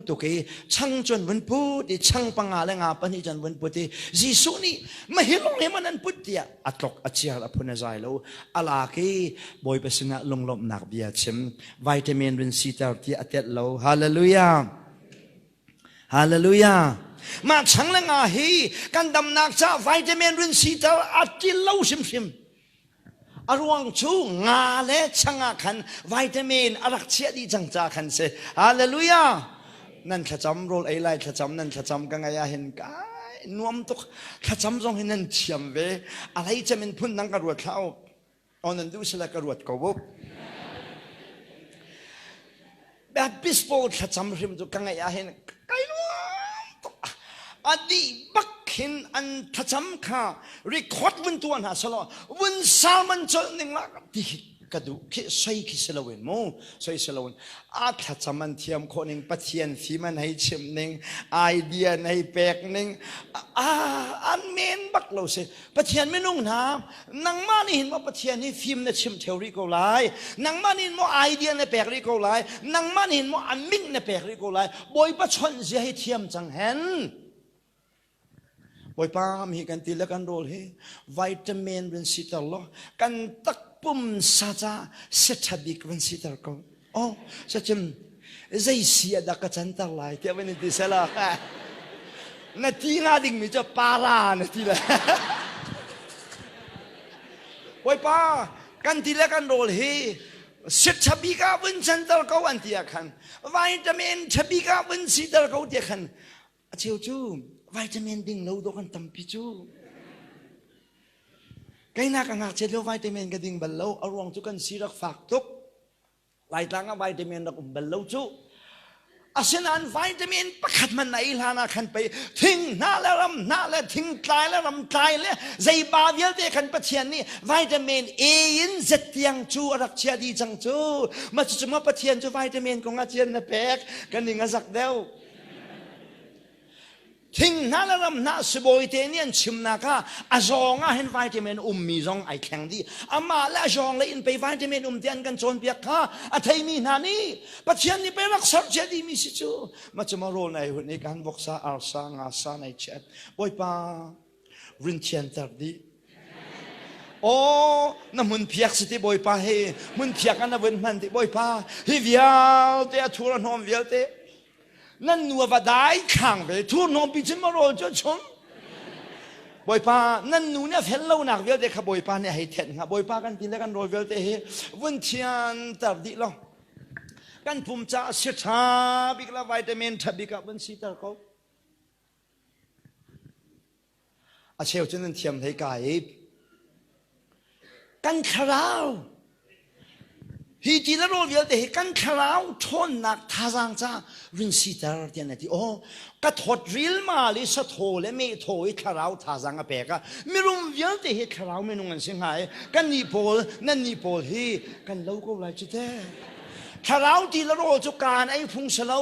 tuk i chang cun vun put i chang panga le nga pahnih cun vun put i Jesuh nih mahilung he man an put tiah a tlok a chiar a phun a zai lo ala ki bawipa sinah lunglawmhnak bia chim vitamin run siter ti a tet lo hallelujah hallelujah mah chang le nga hi kan damnak ca vitamin run siter a til lo hrimhrim A ruang cu nga le chang ah khan vitamin a rak chiah dih cang ca khan si. Hallelujah! Nan thlacam rawl ei lai thlacam nan thlacam ka ngaih ah hin kai nuam tuk thlacam zong hi nan thiam ve a lei cem in phun dang ka ruat hlah up. O nan duh sila ka ruat ko up. Baptist pawl thlacam hrim cu ka ngaih ah hin kai nuam tuk a dih bak khin an thlacam kha record vun tua hna selaw vun salman colh ning la ti ka duh khi soi khi si loin mu soi si loin a thlacam an thiam khawh ning pathian fim an hei chim ning idea an hei pek ning a an men bak lo si Pathian minung hna, nangmah nih hin maw Pathian hi fim na chim theo rih ko lai. Nangmah nih maw idea na pek rih ko lai. Nangmah nih maw a min na pek rih ko lai. Bawipa chawnh zia hi thiam cang hen. Bawipa mi kan ti le kan rawl hi vitamin rin si ter law kan takpum sa ca se tha bik rin si ter ko. Oh, sacim zeisi ah dah ka canter lai tiah van in ti sela na ti nga dingmi cu para na ti le bawipa kan ti le kan rawl hi sit chabi ka vun canter ko an ti ah khan vitamin chabi ka vun siter ko tiah khan A cheu cu vitamin ding lo dawh kan tampi cu. Keinak a ngakchiat lio vitamin ka ding bal lo. A ruang cu kan si rak fak tuk. Laitlang ah vitamin rak um bal lo cu. Asinain vitamin pakhat man na ei hlan ah khan pei thing hna le ram hna le thing tlai le ram tlai le zeiba vialte kan Pathian nih vitamin A in Z tiang cu a rak chia dih cang cu. Ma cucu ma Pathian cu vitamin kong ah cian na pek. Ka ning a zak deuh. Thing hna le ram hna sibawite nih an chimnak ah a zong ah hin vitamin ummi zong ai thleng dih amah le a zong le in pei vitamin um te an kan cawnpiak kha a theimi hna nih Pathian nih pei rak sercia dihmi si cu macam a rawl nai hun i kan voksa arsa nga sa nai chiat bawipa Run thianter dih. Aw, na hmun phiak si ti Bawipa he hmun phiak an a vun hman ti Bawipa hi vialte a thur a hnawm vialte nan nuva dai khang ve thur hnawm pi cun ma rawl cu chum Bawipa nan nu nih a fel lonak vialte kha Bawipa nih a hei thenh hnga Bawipa kan ti le kan rawl vialte hi vun thianter dih lo kan pum caah si ṭha bik la vitamin ṭha bik ah vun siter ko A cheu cu nan thiam hlei ka i kan thlarau hi ti na rawl vialte hi kan thlarau ṭhawnnak thazaang ca vin siter tian a ti o ka thawt rilmal i sathaw le mehthaw i thlarau thazaang a pek a mirum vialte hi thlarau minung an si hnga i kan nih pawl nan nih pawl hi kan lo ko lai cu te thlarau ti le rawl cu kaan ei phung si lo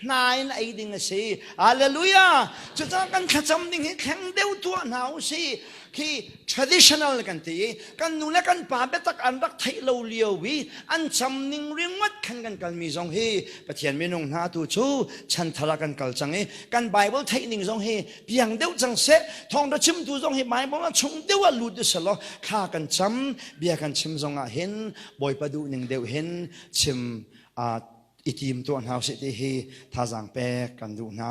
hna in ei ding a si. Hallelujah! Cucaah kan thlacam ding hi thleng deuh tuah hna u si. Khi traditional kan ti i kan nu le kan pa biatak an rak theih lo lio i an cam ning ringot khan kan kalmi zong hi Pathian minung hna tu cu chanthara kan kal cang i kan Bible theih ning zong hi piang deuh cang seh thawngtha chimtu zong hi Bible a chung deuh ah lut usih law thla kan cam bia kan chim zong ah hin Bawipa duh ning deuh hin chim i tim tuah hna usih ti hi thazaang pek kan duh hna.